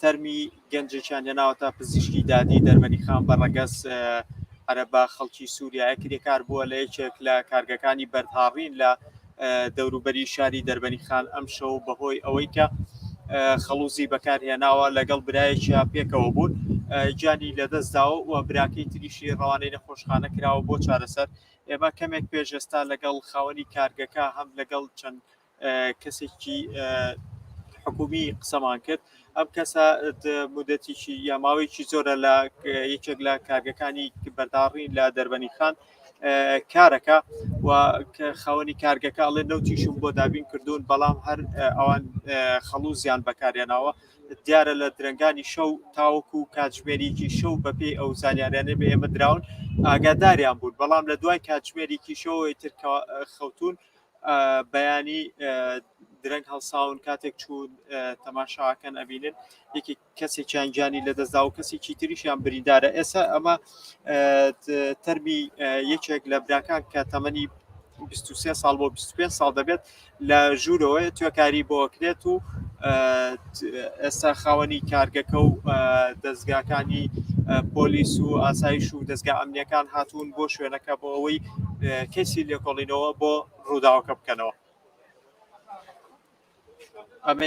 تەرمی گەنجێکیان هێناوەتە پزیشکی دادی دەرمەنی خان بە ڕەگەز عەرەبا خەڵکی سووریایە کرێکار بووە لە یەکێک لە کارگەکانی بەردهاڕین لە دەوروبەری شاری دەربەنی خان ئەم شەو بەهۆی ئەوەی کە خەڵوزی بەکارهێناوە لەگەڵ برایەکییا پێکەوە بوون گیانی لەدەستداوە و براکەی تریشی ڕەوانەی نەخۆشخانە کراوە بۆ چارەسەر ئێمە کەمێک پێشێستا لەگەڵ خاوەنی کارگەکە هەم لەگەڵ چەند کەسێکی حکومی قسەمان کرد ئەم کەسە مدەتیی یا ماوەیەکی زۆرە لە یەکێک لە کارگەکانی بەرداڕی لە دەربەنی خان کارەکە و خاوەنی کارگەکە ئەڵێ نەوتیشم بۆ دابین کردوون بەڵام هەر ئەوان خەڵوزیان بەکاریانەوە دیارە لە درنگانی شەو تاوەکو و کاتژمێریکی شەو بەپێ ئەو زانیاریانە بە ئێمە دراون ئاگاداریان بوون بەڵام لە دوای کاتژمێریکی شەوەی تر خەوتون بەیانی درەنگ هەڵساون کاتێک چوو تەماشاکەن ئەبینن یەکی کەسێکیان گیانی لەدەستدا و کەسێکی تریشیان بریندارە ئێستا ئەمە تەرمی یەکێک لە براکان کە تەمەنی 23 ساڵ بۆ 25 ساڵ دەبێت لە ژوورەوەی توێکاری بۆکرێت و ئێستا خاوەنی کارگەکە و دەستگاکانی پۆلیس و ئاسایش و دەستگا ئەمنیەکان هاتوون بۆ شوێنەکە بۆ ئەوەی کەسی لێکۆڵینەوە بۆ ڕووداوەکە بکەنەوە ئەمە